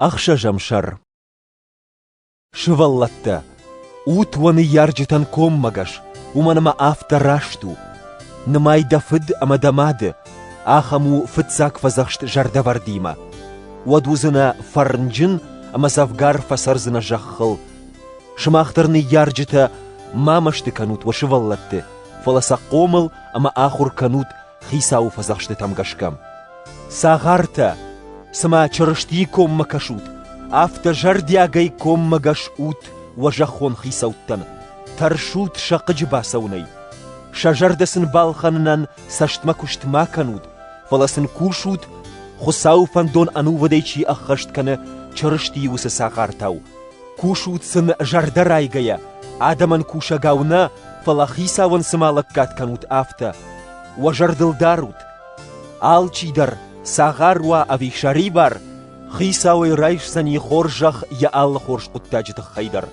Ӕхсӕзӕм сӕр Сывӕллӕттӕ, ут уӕ ныййарджытӕн коммӕгӕс, уымӕн ӕмӕ афтӕ раст у. Нымай дӕ фыд ӕмӕ дӕ мады, ахӕм у фыццаг фӕдзӕхст зӕрдӕвӕрдимӕ. Уӕд уыдзынӕ фӕрнджын ӕмӕ дзӕвгар фӕцӕрдзынӕ зӕххыл. Сымах дӕр, ныййарджытӕ, ма мӕсты кӕнут уӕ сывӕллӕтты, фӕлӕ сӕ хъомыл ӕмӕ ахуыр кӕнут Хицауы фӕдзӕхстытӕм гӕсгӕ. Цагъартӕ, цыма Чырыстийы коммӕ кӕсут, афтӕ зӕрдиагӕй коммӕгӕс ут уӕ зӕххон хицӕуттӕн, тӕрсут сӕ хъыджы бацӕуынӕй. Сӕ зӕрдӕ сын балхӕнынӕн цӕстмӕ куыст ма кӕнут, фӕлӕ сын кусут, Хуыцауы фӕндон ӕнувыдӕй чи ӕххӕст кӕны Чырыстийы уыцы цагъартау. Кусут сын зӕрдӕрайгӕйӕ, адӕмӕн кусӕгау нӕ, фӕлӕ Хицауӕн цыма лӕггад кӕнут, афтӕ. Уӕ зӕрдыл дарут, алчи дӕр, цагъар уа ӕви сӕрибар, Хицауӕй райсдзӕни хорзӕх йӕ алы хорз хъуыддаджы тыххӕй дӕр.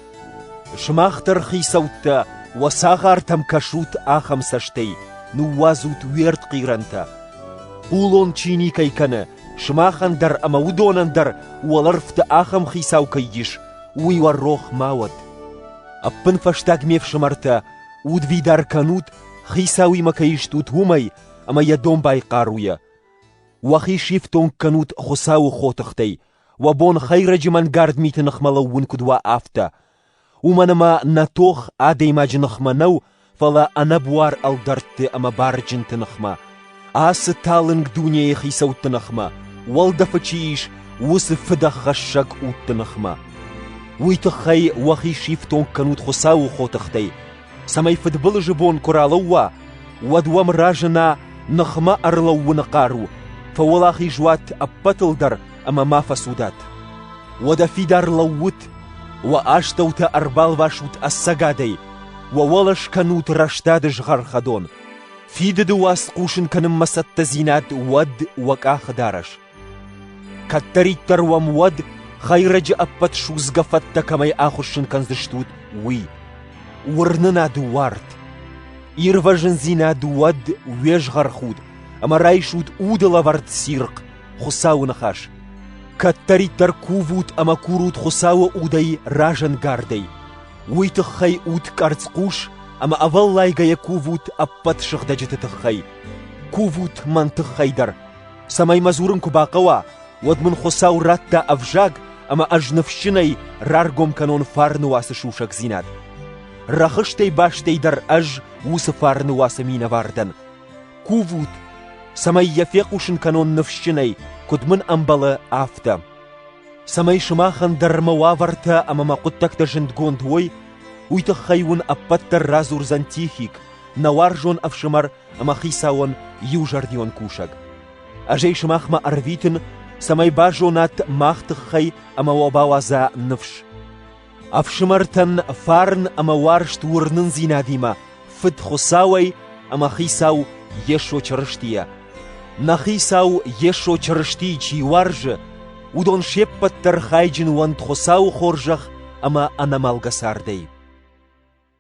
Сымах дӕр, хицӕуттӕ, уӕ цагъартӕм кӕсут ахӕм цӕстӕй, ныууадзут уе ртхъирӕнтӕ. Хъулон чи никӕй кӕны, Сымахӕн дӕр ӕмӕ уыдонӕн дӕр уӕлӕрвты ахӕм хицау кӕй ис, уый уӕ рох ма уӕд. Ӕппынфӕстаг ме фсымӕртӕ, удвидар кӕнут, хицауимӕ кӕй стут, уымӕй, ӕмӕ йӕ домбай хъаруйӕ. Уӕхи сифтонг кӕнут Хуыцауы хотыхтӕй, уӕ бон хӕйрӕджы мӕнгард миты ныхмӕ лӕууын куыд уа, афтӕ, Уымӕн ӕмӕ нӕ тох адӕймаджы ныхмӕ нӕу, фӕлӕ ӕнӕбуар ӕлдӕртты ӕмӕ барджынты ныхмӕ, ацы талынг дунейы хицӕутты ныхмӕ, уӕлдӕфы чи ис, уыцы фыдӕххӕссӕг удты ныхмӕ. Уый тыххӕй уӕхи сифтонг кӕнут Хуыцауы хотыхтӕй, цӕмӕй фыдбылызы бон куы ралӕууа, уӕд уӕм разына ныхмӕ ӕрлӕууыны хъару, фӕуӕлахиз уат ӕппӕтыл дӕр ӕмӕ ма фӕцудат. Уӕдӕ фидар лӕуут, уӕ астӕутӕ ӕрбалвасут ӕцӕгадӕй, уӕ уӕлӕ скӕнут рӕстады згъӕрхӕдон. Фидыды уац хъусын кӕнынмӕ цӕттӕдзинад уӕд уӕ къахы дарӕс. Кӕддӕриддӕр уӕм уӕд, хӕйрӕджы ӕппӕт судзгӕ фӕдтӕ кӕмӕй ахуыссын кӕндзыстут, уый. Уырнынад уарт, ирвӕзындзинад уӕд уе згъӕрхуд, ӕмӕ райсут удылӕвӕрд цирхъ, Хуыцауы ныхас. Кӕддӕриддӕр кувут ӕмӕ курут Хуыцауы удӕй разӕнгардӕй. Уый тыххӕй ут къӕрцхъус ӕмӕ ӕвӕллайгӕйӕ кувут ӕппӕт сыгъдӕджыты тыххӕй. Кувут мӕн тыххӕй дӕр, цӕмӕй мӕ дзурын куы бахъӕуа, уӕд мын Хуыцау радта ӕвзаг ӕмӕ ӕз ныфсджынӕй раргом кӕнон фарны уацы сусӕгдзинад. Рӕхыстӕй бастӕй дӕр ӕз уыцы фарны уацы минӕвар дӕн. Кувут, цӕмӕй йӕ фехъусын кӕнон ныфсджынӕй, куыд мын ӕмбӕлы, афтӕ. Цӕмӕй сымахӕн дӕр мӕ уавӕртӕ ӕмӕ мӕ хъуыддӕгтӕ зындгонд уой, уый тыххӕй уын ӕппӕт дӕр радзурдзӕн Тихик, нӕ уарзон ӕфсымӕр ӕмӕ хицауӕн иузӕрдион кусӕг. Ӕз ӕй сымахмӕ ӕрвитын, цӕмӕй базонат мах тыххӕй ӕмӕ уӕ бауадза ныфс. Ӕфсымӕртӕн фарн ӕмӕ уарзт уырнындзинадимӕ Фыд Хуыцауӕй ӕмӕ Хицау Йесо Чырыстийӕ. Нӕ Хицау Йесо Чырыстийы чи уарзы, уыдон се ппӕт дӕр хайджын уӕнт Хуыцауы хорзӕх ӕмӕ ӕнӕмӕлгӕ цардӕй.